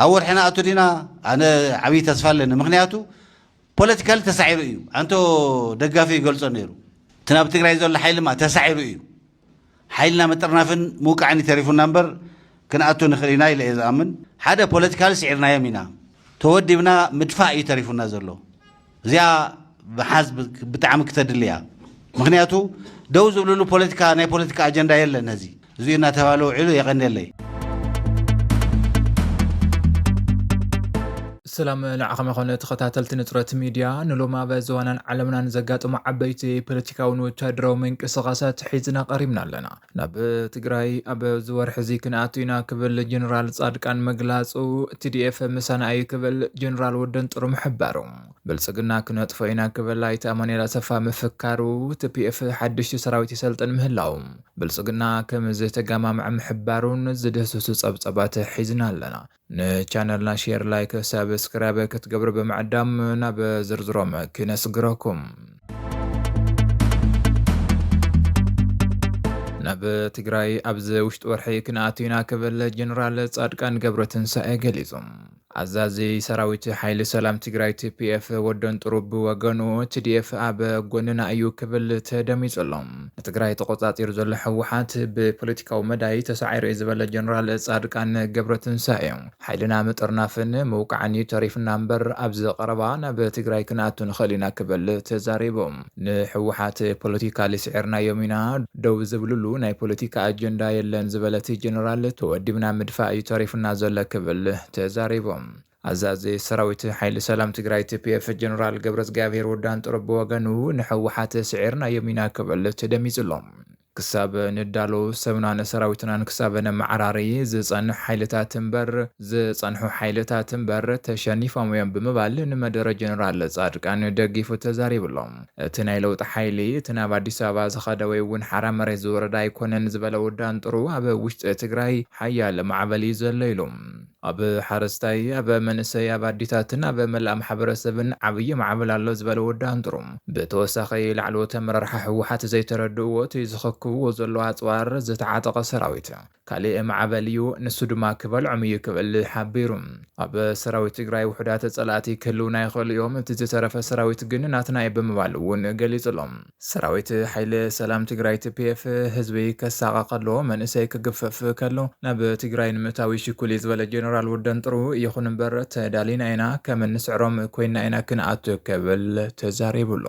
ኣብ ወርሒ ንኣቱ ዲና ኣነ ዓብይ ተስፋ ኣለኒ ምክንያቱ ፖለቲካሊ ተሳዒሩ እዩ ኣንቶ ደጋፊ ይገልጾ ነይሩ እቲ ናብ ትግራይ ዘሎ ሓይሊ ማ ተሳዒሩ እዩ ሓይልና ምጥርናፍን ምውቃዕን ይተሪፉና እምበር ክንኣቱ ንኽእል ኢና ኢለ እየ ዝኣምን ሓደ ፖለቲካሊ ስዒርናዮም ኢና ተወዲብና ምድፋእ እዩ ተሪፉና ዘሎ እዚኣ ምሓዝ ብጣዕሚ ክተድሊ እያ ምክንያቱ ደው ዝብልሉ ፖለቲካ ናይ ፖለቲካ ኣጀንዳ የለን እዚ እዚኡ እናተባህለ ውዒሉ የቀንየለይ ሰላም ንዓኸም ይኾነ ተኸታተልቲ ንፅረት ሚድያ ንሎም ኣብ ዝዋናን ዓለምናን ዘጋጠሙ ዓበይቲ ፖለቲካውን ወታደራዊ ምንቅስቃሳት ሒዝና ቀሪብና ኣለና ናብ ትግራይ ኣብዚ ወርሒ'ዚ ክንኣቱ ኢና ክብል ጀነራል ጻድቃን ምግላጹ፣ ቲዲኤፍ ምሳና እዩ ክብል ጀነራል ወዲ ኣንጥሩ ምሕባሩ፣ ብልጽግና ክነጥፎ ኢና ክብል ኣይተ ኣማኑኤል ኣሰፋ ምፍካሩ፣ ትፒኤፍ ሓድሽቲ ሰራዊት የሰልጥን ምህላዉ፣ ብልጽግና ከምዝተጋማምዐ ምሕባሩን ዝድህስሱ ጸብጻባት ሒዝና ኣለና። ንቻነልና ሼር ላይክ ሳብስክራይብ ክትገብሩ ብምዕዳም ናብ ዝርዝሮም ክነስግረኩም። ናብ ትግራይ ኣብዚ ውሽጢ ወርሒ ክንኣቱ ኢና ክብል ጀነራል ጻድቃን ገብረ ትንሳኤ ገሊጹ። ኣዛዚ ሰራዊት ሓይሊ ሰላም ትግራይ ቲፒኤፍ ወደን ጥሩብ ብወገኑ ቲዲኤፍ ኣብ ጎንና እዩ ክብል ተደሚጹ ኣሎ። ንትግራይ ተቖፃፂሩ ዘሎ ህወሓት ብፖለቲካዊ መዳይ ተሳዒሩ እዩ ዝበለ ጀነራል ፃድቃን ገብረትንሳኤ፣ ሓይልና ምጥርናፍን ምውቃዕን እዩ ተሪፉና እምበር ኣብዚ ቀረባ ናብ ትግራይ ክንኣቱ ንኽእል ኢና ክብል ተዛሪቡ። ንህወሓት ፖለቲካሊ ስዒርናዮም ኢና፣ ደው ዝብልሉ ናይ ፖለቲካ ኣጀንዳ የለን ዝበለ እቲ ጀነራል፣ ተወዲብና ምድፋእ እዩ ተሪፉና ዘሎ ክብል ተዛሪቡ። ኣዛዚ ሰራዊት ሓይሊ ሰላም ትግራይ፣ TPF፣ ጀነራል ገብረዝግኣብሄር ወዲ ኣንጥሮ ብወገኑ፣ ንህወሓት ስዒርናዮም ኢና ክብል ተደሚፁ ኣሎ። ክሳብ ንዳሎ፣ ሰብናን ሰራዊትናን ክሳብ ነመዓራሪ፣ ዝፀንሑ ሓይልታት እምበር ዝፀንሑ ሓይልታት እምበር ተሸኒፎም እዮም ብምባል ንመደረ ጀነራል ፃድቃን ደጊፉ ተዛሪቡ ኣሎ። እቲ ናይ ለውጢ ሓይሊ፣ እቲ ናብ ኣዲስ ኣበባ ዝኸደ ወይ እውን ሓራ መሬት ዝወረደ ኣይኮነን ዝበለ ወዲ ኣንጥሩ፣ ኣብ ውሽጢ ትግራይ ሓያል ማዕበል እዩ ዘሎ ኢሉ። ኣብ ሓረስታይ፣ ኣብ መንእሰይ፣ ኣብ ኣዲታትን ኣብ መላእ ማሕበረሰብን ዓብዪ ማዕበል ኣሎ ዝበለ ወዲ ኣንጥሩ፣ ብተወሳኺ ላዕለዎት ኣመራርሓ ህወሓት ዘይተረድእዎ እቲ ዝኽክብዎ ዘለዉ ኣፅዋር ዝተዓጠቐ ሰራዊት ካሊእ ማዕበል እዩ፣ ንሱ ድማ ክበልዖም እዩ ክብል ሓቢሩ። ኣብ ሰራዊት ትግራይ ውሑዳት ፀላእቲ ክህልዉና ይኽእሉ እዮም፣ እቲ ዝተረፈ ሰራዊት ግን ናትና እዩ ብምባል እውን ገሊፁ ኣሎ። ሰራዊት ሓይሊ ሰላም ትግራይ TPF ህዝቢ ከሳቐ ከሎ መንእሰይ ክግፈፍ ከሎ ናብ ትግራይ ንምእታው ይሽኩል እዩ ዝበለ ጀነራል ወደንጥሩ ይኹን እምበር ተዳሊና ኢና ከም እንስዕሮም ኮይና ኢና ክንኣቱ ክብል ተዛሪቡ ኣሎ።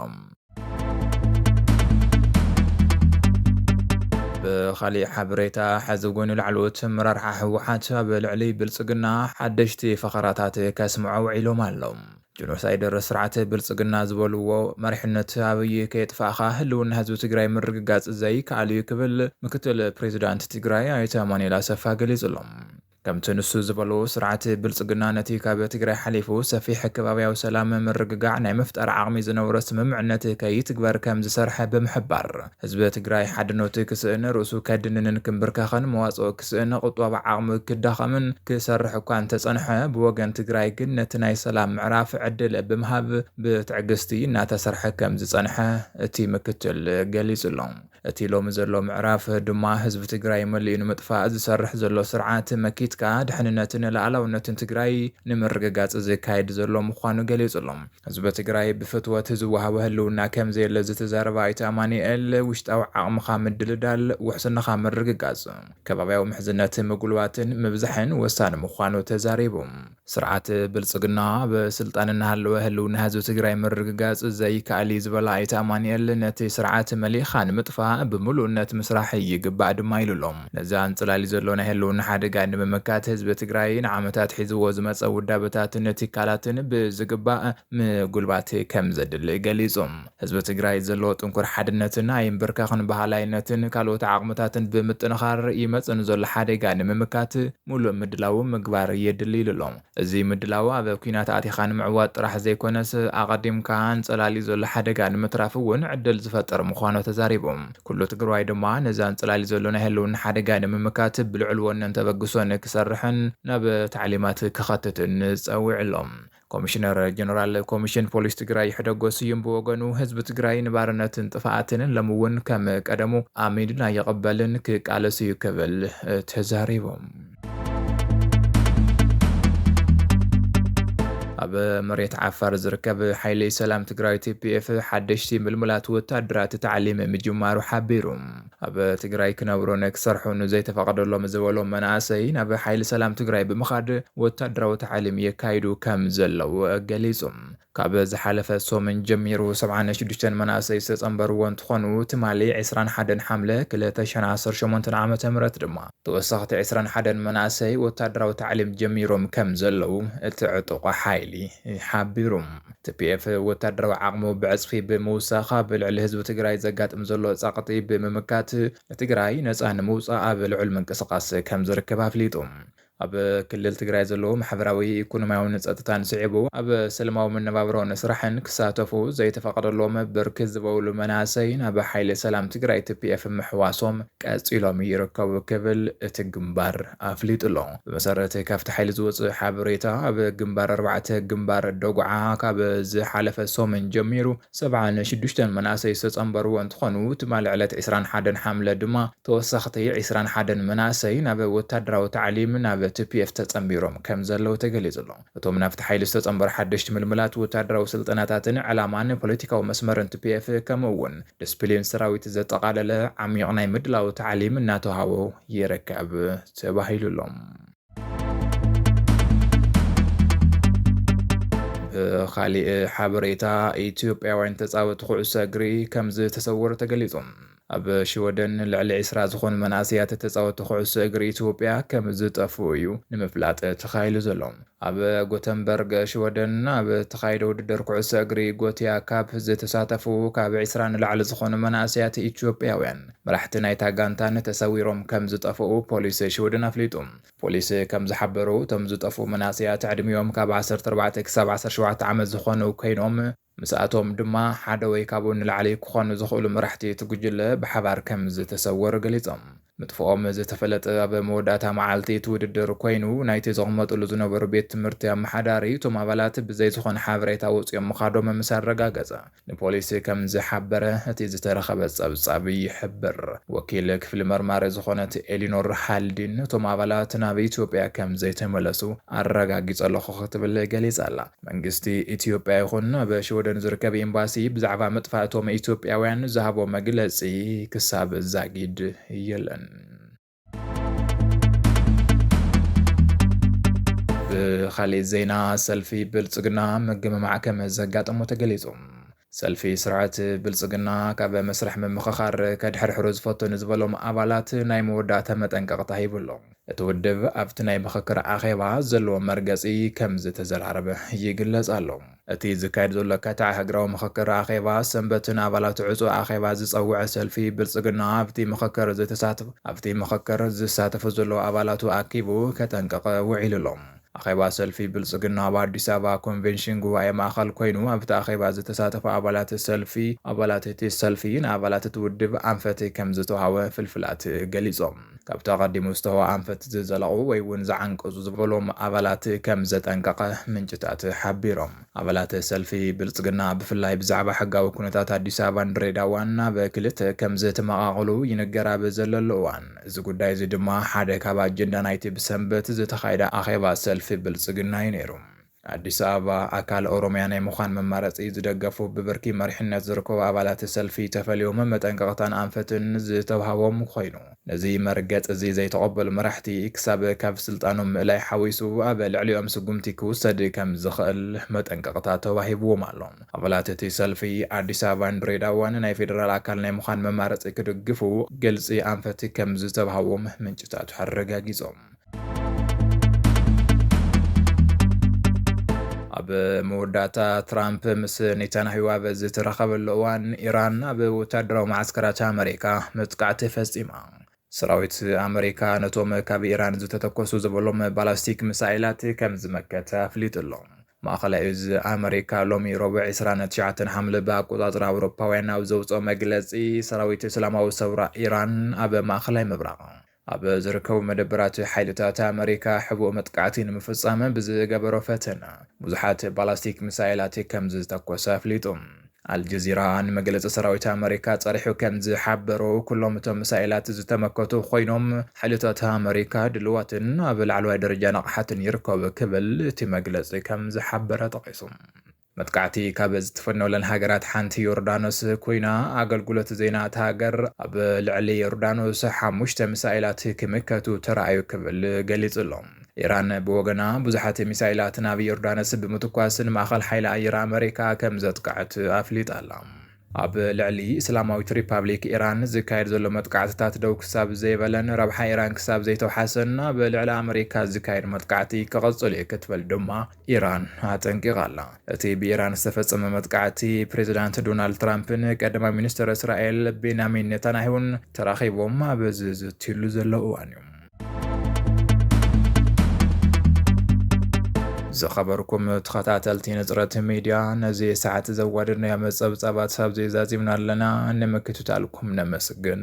ብኻሊእ ሓበሬታ ሐዚ እውን ላዕለዎት ኣመራርሓ ህወሓት ኣብ ልዕሊ ብልፅግና ሓደሽቲ ፈኸራታት ከስምዑ ውዒሎም ኣለው። ጆኖሳይደር ስርዓት ብልፅግና ዝበልዎ መሪሕነት ኣብይ ከየጥፋእኻ ህልውና ህዝቢ ትግራይ ምርግጋፅ ዘይከኣል እዩ ክብል ምክትል ፕሬዚዳንት ትግራይ ኣይተ ኣማኑኤል ኣሰፋ ገሊፁ ኣሎ። ከምቲ ንሱ ዝበሎ ስርዓት ብልፅግና ነቲ ካብ ትግራይ ሓሊፉ ሰፊሕ ከባብያዊ ሰላም ምርግጋዕ ናይ ምፍጣር ዓቕሚ ዝነበሮ ስምምዕነት ከይትግበር ከምዝሰርሐ ብምሕባር ህዝቢ ትግራይ ሓድነቱ ክስእን፣ ርእሱ ከድንንን ክምብርከኽን፣ መዋጽኦ ክስእን፣ ቁጠባ ዓቕሙ ክዳኸምን ክሰርሕ እኳ እንተጸንሐ፣ ብወገን ትግራይ ግን ነቲ ናይ ሰላም ምዕራፍ ዕድል ብምሃብ ብትዕግስቲ እናተሰርሐ ከም ዝጸንሐ እቲ ምክትል ገሊጹ ኣሎ። እቲ ሎሚ ዘሎ ምዕራፍ ድማ ህዝቢ ትግራይ መሊኡ ንምጥፋእ ዝሰርሕ ዘሎ ስርዓት መኪትካ ድሕንነትን ልኣላውነትን ትግራይ ንምርግጋጽ ዝካየድ ዘሎ ምዃኑ ገሊጹ ኣሎ። ህዝቢ ትግራይ ብፍትወት ዝወሃቦ ህልውና ከምዘየለ ዝተዛረበ ኣይተ ኣማኒኤል፣ ውሽጣዊ ዓቕምኻ ምድልዳል፣ ውሕስናኻ ምርግጋፅ፣ ከባብያዊ ምሕዝነት ምጉልባትን ምብዛሕን ወሳኒ ምዃኑ ተዛሪቡ። ስርዓት ብልፅግና ኣብ ስልጣን እናሃለወ ህልውና ህዝቢ ትግራይ ምርግጋፅ ዘይከኣል እዩ ዝበለ ኣይተ ኣማኒኤል፣ ነቲ ስርዓት መሊእኻ ንምጥፋእ ብሙሉእነት ምስራሕ ይግባእ ድማ ኢሉ ኣሎ። ነዚ ኣንጸላልዩ ዘሎ ናይ ህልውና ሓደጋ ንምምካት ህዝቢ ትግራይ ንዓመታት ሒዝዎ ዝመጸ ውዳበታትን ትካላትን ብዝግባእ ምጉልባት ከምዘድሊ ገሊጹ። ህዝቢ ትግራይ ዘለዎ ጥንኩር ሓድነትን ኣይምብርከኽን በሃላይነትን ካልኦት ዓቕምታትን ብምጥንኻር ይመጽእ ንዘሎ ሓደጋ ንምምካት ሙሉእ ምድላው ምግባር የድሊ ኢሉ ኣሎ። እዚ ምድላው ኣብ ኲናት ኣቲኻ ንምዕዋት ጥራሕ ዘይኮነስ ኣቐዲምካ ኣንፀላልዩ ዘሎ ሓደጋ ንምትራፍ እውን ዕድል ዝፈጥር ምዃኑ ተዛሪቡ። ኩሉ ትግርዋይ ድማ ነዚ ኣንፀላልዩ ዘሎ ናይ ህልውና ሓደጋ ንምምካት ብልዑል ወነን ተበግሶን ክሰርሕን ናብ ታዕሊማት ከኸትትን ፀዊዕሎ። ኮሚሽነር ጀነራል ኮሚሽን ፖሊስ ትግራይ ይሕደጎ ስዩም ብወገኑ ህዝቢ ትግራይ ንባርነትን ጥፍኣትን ሎሚ እውን ከም ቀደሙ ኣሚንና ይቕበልን ክቃለስ እዩ ክብል ተዛሪቡ። ኣብ መሬት ዓፋር ዝርከብ ሓይሊ ሰላም ትግራይ ቲፒኤፍ ሓደሽቲ ምልሙላት ወታደራት ታዕሊም ምጅማሩ ሓቢሩ። ኣብ ትግራይ ክነብሩን ክሰርሑን ዘይተፈቐደሎም ዝበሎም መናእሰይ ናብ ሓይሊ ሰላም ትግራይ ብምኻድ ወታደራዊ ታዕሊም የካይዱ ከም ዘለዉ ገሊጹ። ካብ ዝሓለፈ ሰሙን ጀሚሩ ሰብዓን ሽዱሽተን መናእሰይ ዝተፀምበርዎ እንትኾኑ ትማሊ ዕስራን ሓደን ሓምለ ክልተ ሽሕን ዓሰርተ ሸሞንተን ዓመተ ምህረት ድማ ተወሰኽቲ ዕስራን ሓደን መናእሰይ ወታደራዊ ታዕሊም ጀሚሮም ከምዘለው እቲ ዕጡቕ ሓይሊ ሓቢሩ። tpf ወታደራዊ ዓቕሙ ብዕፅፊ ብምውሳኽ ኣብ ልዕሊ ህዝቢ ትግራይ ዘጋጥም ዘሎ ፀቕጢ ብምምካት ንትግራይ ነፃ ንምውፃእ ኣብ ልዑል ምንቅስቓስ ከምዝርከብ ኣፍሊጡ። ኣብ ክልል ትግራይ ዘለዉ ማሕበራዊ፣ ኢኮኖሚያውን ፀጥታን ስዒቡ ኣብ ሰለማዊ መነባብሮን ስራሕን ክሳተፉ ዘይተፈቐደሎም ብርክት ዝበሉ መናእሰይ ናብ ሓይሊ ሰላም ትግራይ፣ tpf፣ ምሕዋሶም ቀፂሎም ይርከቡ ክብል እቲ ግንባር ኣፍሊጡ ኣሎ። ብመሰረት ካብቲ ሓይሊ ዝወፅእ ሓበሬታ ኣብ ግንባር ኣርባዕተ ግንባር ደጉዓ ካብ ዝሓለፈ ሰሙን ጀሚሩ፣ ሰብዓን ሽዱሽተን መናእሰይ ዝተፀምበርዎ እንትኾኑ፣ ትማሊ ዕለት ዕስራን ሓደን ሓምለ ድማ ተወሰኽቲ ዕስራን ሓደን መናእሰይ ናብ ወታደራዊ ታዕሊም ናብ tpf ተፀምቢሮም ከምዘለው ተገሊፁ ኣሎ። እቶም ናብቲ ሓይሊ ዝተፀምበሩ ሓደሽቲ ምልምላት ወታደራዊ ስልጠናታትን ዕላማን ፖለቲካዊ መስመርን tpf ከምኡ እውን ድስፕሊን ሰራዊት ዘጠቓለለ ዓሚዩቕ ናይ ምድላው ታዕሊም እናተውሃቦ ይርከብ ተባሂሉ ኣሎ። ካሊእ ሓበሬታ ኢትዮጵያውያን ተፃወቲ ኩዕሶ እግሪ ከም ዝተሰወሩ ተገሊፁ። ኣብ ሽወደን ልዕሊ ዒስራ ዝኾኑ መናእሰያት ተፃወቲ ኩዕሶ እግሪ ኢትዮጵያ ከም ዝጠፍኡ እዩ ንምፍላጥ ተኻኢሉ ዘሎ። ኣብ ጎተንበርግ ሽወደን ኣብ ተኻይደ ውድድር ኩዕሶ እግሪ ጎትያ ካፕ ዝተሳተፉ ካብ ዒስራ ንላዕሊ ዝኾኑ መናእሰያት ኢትዮጵያውያን መራሕቲ ናይታ ጋንታን ተሰዊሮም ከም ዝጠፍኡ ፖሊስ ሽውድን ኣፍሊጡ። ፖሊስ ከም ዝሓበሮ እቶም ዝጠፍኡ መናእሰያት ዕድሚኦም ካብ ዓሰርተ ኣርባዕተ ክሳብ ዓሰርተ ሸውዓተ ዓመት ዝኾኑ ከይኖም፣ ምስኣቶም ድማ ሓደ ወይ ካብኡ ንላዕሊ ክኾኑ ዝኽእሉ መራሕቲ እቲ ጉጅለ ብሓባር ከም ዝተሰወሩ ገሊጾም። ምጥፍኦም ዝተፈለጠ ኣብ መወዳእታ መዓልቲ እቲ ውድድር ኮይኑ፣ ናይቲ ዝቕመጥሉ ዝነበሩ ቤት ትምህርቲ ኣመሓዳሪ እቶም ኣባላት ብዘይ ዝኾነ ሓበሬታ ወጺኦም ምኻዶም ምስ ኣረጋገጸ፣ ንፖሊስ ከም ዝሓበረ እቲ ዝተረኸበ ጸብጻብ ይሕብር። ወኪል ክፍሊ መርማሪ ዝኾነት ኤሊኖር ሃልዲን እቶም ኣባላት ናብ ኢትዮጵያ ከም ዘይተመለሱ ኣረጋጊጸ ኣለኹ ክትብል ገሊጻ ኣላ። መንግስቲ ኢትዮጵያ ይኹን ኣብ ሽወደን ዝርከብ ኤምባሲ ብዛዕባ ምጥፋእ እቶም ኢትዮጵያውያን ዝሃቦ መግለጺ ክሳብ ዛጊድ የለን። ብኻሊእ ዜና ሰልፊ ብልፅግና ምግምማዕ ከምዘጋጠሞ ተገሊፁ። ሰልፊ ስርዓት ብልፅግና ካብ መስርሕ ምምኽኻር ከድሕርሕሩ ዝፈተኑ ዝበሎም ኣባላት ናይ መወዳእታ መጠንቀቕታ ሂቡ ኣሎ። እቲ ውድብ ኣብቲ ናይ ምኽክር ኣኼባ ዘለዎ መርገፂ ከምዝተዘራረበ ይግለፅ ኣሎ። እቲ ዝካየድ ዘሎ ከተዕ ሃገራዊ ምኽክር ኣኼባ ሰንበት ንኣባላቱ ዕጹው ኣኼባ ዝጸውዐ ሰልፊ ብልጽግና ኣብቲ ምኽክር ዝተሳተፉ ኣብቲ ምኽክር ዝሳተፉ ዘለዉ ኣባላቱ ኣኪቡ ከጠንቅቕ ውዒሉ ኣሎ። ኣኼባ ሰልፊ ብልጽግና ኣብ ኣዲስ ኣበባ ኮንቬንሽን ጉባኤ ማእኸል ኮይኑ ኣብቲ ኣኼባ ዝተሳተፉ ኣባላት ሰልፊ ኣባላት እቲ ሰልፊ ንኣባላት እቲ ውድብ ኣንፈት ከምዝተውሃበ ፍልፍላት ገሊጾም። ካብቲ ኣቐዲሙ ዝተወ ኣንፈት ዝዘለቑ ወይ እውን ዝዓንቀፁ ዝበሎም ኣባላት ከም ዘጠንቀቐ ምንጭታት ሓቢሮም። ኣባላት ሰልፊ ብልፅግና ብፍላይ ብዛዕባ ሕጋዊ ኩነታት ኣዲስ ኣበባን ድሬዳዋን ናብ ክልተ ከም ዝተመቓቐሉ ይንገር ኣብ ዘለሉ እዋን እዚ ጉዳይ እዚ ድማ ሓደ ካብ ኣጀንዳ ናይቲ ብሰንበት ዝተኻየደ ኣኼባ ሰልፊ ብልፅግና እዩ ነይሩ። ኣዲስ ኣበባ፣ ኣካል ኦሮሚያ ናይ ምዃን መማረፂ ዝደገፉ ብብርኪ መሪሕነት ዝርከቡ ኣባላት ሰልፊ ተፈልዮም መጠንቀቕታን ኣንፈትን ዝተውሃቦም ኾይኑ ነዚ መርገፂ እዚ ዘይተቐበሉ መራሕቲ ክሳብ ካብ ስልጣኖም ምእላይ ሓዊሱ ኣብ ልዕሊኦም ስጉምቲ ክውሰድ ከም ዝኽእል መጠንቀቕታ ተዋሂብዎም ኣሎ። ኣባላት እቲ ሰልፊ ኣዲስ ኣበባን ድሬዳዋን ናይ ፌደራል ኣካል ናይ ምዃን መማረፂ ክድግፉ ግልፂ ኣንፈት ከም ዝተብሃዎም ምንጭታቱ ኣረጋጊፆም። ኣብ መወዳእታ ትራምፕ ምስ ኔታንያሁ ኣብ ዝተራኸበሉ እዋን ኢራን ኣብ ወታደራዊ መዓስከራት ኣመሪካ መጥቃዕቲ ፈጺማ። ሰራዊት ኣመሪካ ነቶም ካብ ኢራን ዝተተኮሱ ዝበሎም ባላስቲክ ሚሳይላት ከም ዝመከተ ኣፍሊጡ ኣሎ። ማእኸላይ እዝ ኣመሪካ ሎሚ ረቡዕ 29 ሓምለ ብኣቆጻጽራ ኣውሮፓውያን ኣብ ዘውጽኦ መግለጺ ሰራዊት እስላማዊ ሰውራ ኢራን ኣብ ማእኸላይ ምብራቕ ኣብ ዝርከቡ መደበራት ሓይልታት ኣመሪካ ሕቡእ መጥቃዕቲ ንምፍጻም ብዝገበሮ ፈተነ፣ ብዙሓት ባላስቲክ ሚሳይላት ከምዝተኮሰ ኣፍሊጡ። ኣልጀዚራ ንመግለጺ ሰራዊት ኣመሪካ ጸሪሑ ከምዝሓበሮ፣ ኩሎም እቶም ሚሳይላት ዝተመከቱ ኮይኖም፣ ሓይልታት ኣመሪካ ድሉዋትን ኣብ ላዕለዋይ ደረጃ ንቕሓትን ይርከቡ ክብል እቲ መግለጺ ከምዝሓበረ ጠቒሱ። መጥቃዕቲ ካብ ዝትፈነወለን ሃገራት ሓንቲ ዮርዳኖስ ኮይና፣ ኣገልግሎት ዜና እታ ሃገር ኣብ ልዕሊ ዮርዳኖስ ሓሙሽተ ሚሳኤላት ክምከቱ ተራእዩ ክብል ገሊጹ ኣሎ። ኢራን ብወገና ብዙሓት ሚሳኤላት ናብ ዮርዳኖስ ብምትኳስ ንማእከል ሓይሊ ኣየር ኣመሪካ ከምዘጥቅዐት ኣፍሊጣ ኣላ። ኣብ ልዕሊ እስላማዊት ሪፓብሊክ ኢራን ዝካየድ ዘሎ መጥቃዕትታት ደው ክሳብ ዘይበለን ረብሓ ኢራን ክሳብ ዘይተውሓሰን ኣብ ልዕሊ ኣመሪካ ዝካየድ መጥቃዕቲ ክቕጽል እዩ ክትብል ድማ ኢራን ኣጠንቂቓ ኣላ። እቲ ብኢራን ዝተፈጸመ መጥቃዕቲ፣ ፕሬዝዳንት ዶናልድ ትራምፕን ቀዳማይ ሚኒስተር እስራኤል ቤንያሚን ኔታንያሁን ተራኺቦም ኣብ ዝዝትዩሉ ዘለዉ እዋን እዩ። ዝኸበርኩም ተኸታተልቲ ንጽረት ሚድያ ነዚ ሰዓት ዘዋደድናዮ መጸብጻባት ኣብዚ ዛዚምና ኣለና። ንምክትታልኩም ነመስግን።